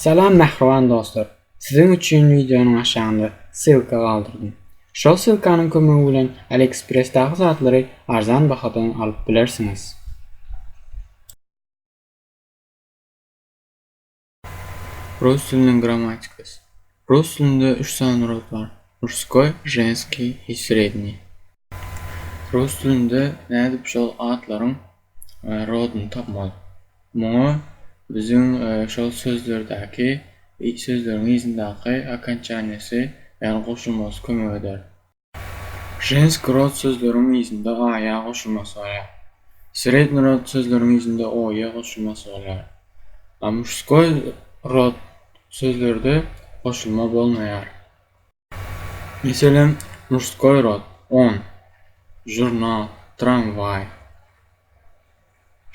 Salam mähriban dostlar! Siziň üçin wideonyň aşagynda ssylka galdyrdym. Şol ssylkanyň kömegi bilen AliExpress-daky zatlary arzan bahadan alyp bilersiňiz. Rus diliniň grammatikasy. Rus dilinde üç sany rod bar, murskoý, ženskiý i sredniý. Rus dilinde nädip şol atlaryň rodyny tapmaly? Muňa biziň şol sözlerdäki sözleriň yzyndaky okonçaniýasy, ýagny goşulmasy kömek eder. Ženski rod sözleriň yzynda aýa goşulmasy bolýar. Sredni rod sözleriň yzynda oýe goşulmasy bolýar. A muşskoý rod sözlerde goşulma bolmaýar. Meselem, Murskoý rod, on, žurnal, tramwaý,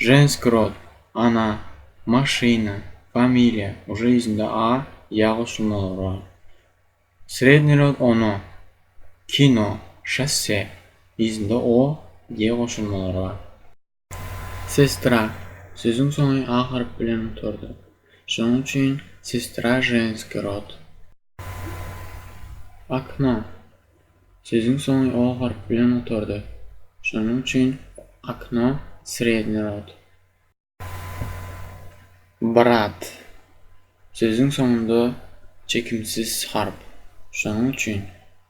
Ženskiý rod, ana, maşyna, familiýa, uje ýüzünde a, ýa goşulmalar bar. Sredniý rod, ono, kino, şosse, ýüzünde o, ýe goşulmalar bar. Sestra, sözüň soňy a harp bilen gutardy. Şonuň üçin sestra ženskiý rod. Okno, sözüň soňy o harp bilen gutardy. Şonuň üçin okno sredniý rod. Brat, sözüň soňunda çekimsiz harp. Şonuň üçin.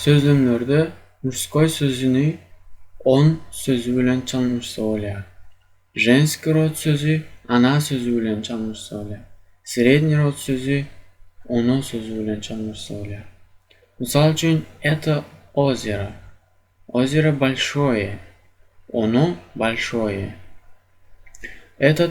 Sözlemlerde murskoý sözüni on sözi bilen çalnyşsa bolýar. Ženskiý rod sözi ana sözi bilen çalnyşsa bolýar. Sredniý rod sözi ono sözi bilen çalnyşsa bolýar. Mysal üçin, eto ozero, ozero bolşoýe, ono bolşoýe. Eto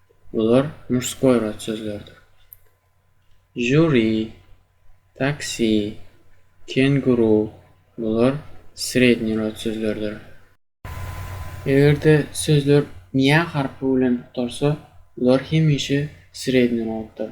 Bular murskoý rod sözleridir. Žuri, taksi, kenguru, bular sredniý rod sözleridir. Eger-de sözler mýa harpy bilen gutarsa, bular hemişe sredniý roddyr.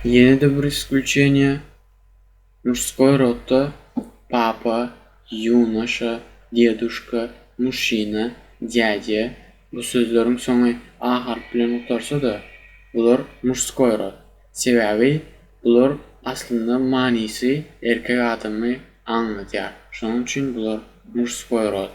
Ýene-de bir isklüçeniýe, Muşskoý rota, Papa, Ýunaşa, Deduşka, Muşşina, Dýadýa, bu sözleriň soňy a harpy bilen gutarsa-da, bular muşskoý rod. Sebäbi bular aslynda manysy erkek adamy aňladýar. Şonuň üçin bular muşskoý rod.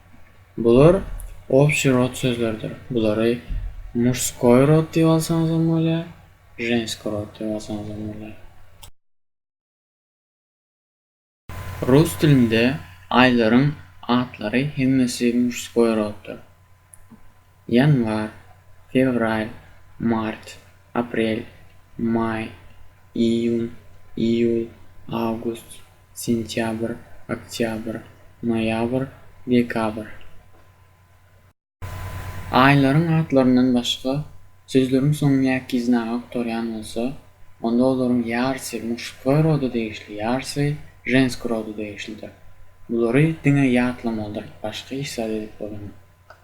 Bular obşi rod sözleridir. Bulary muşskoý rod diýip alsaňyzam bolýar, ženski rod diýip alsaňyzam bolýar. Rus dilinde aýlaryň atlary hemmesi muşskoý roddyr. Ýanwar, fewral, mart, aprel, maý, iýun, iýul, awgust, sentýabr, oktýabr, noýabr, dekabr. Aýlaryň atlaryndan başga sözleriň soňy näkiz na ga gutarýan bolsa, onda olaryň ýarysy muştkoý roda degişli, ýarysy ženskoý roda degişlidir. Bulary diňe ýatlamalydyr, başga hiç zat edip bolanok.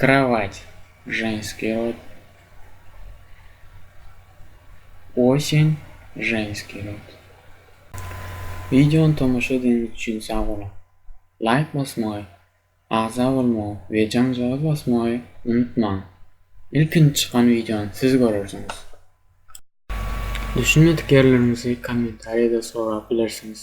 Krawat, ženskiý rod. Osen, ženskiý rod. Wideony tomaşa edeniňiz üçin sag boluň! Laýk basmagy, agza bolmagy we jaňjagaz basmagy unutmaň! Ilkinji çykan wideony siz görersiňiz! Düşünmedik ýerleriňizi kommentariýada sorap bilersiňiz!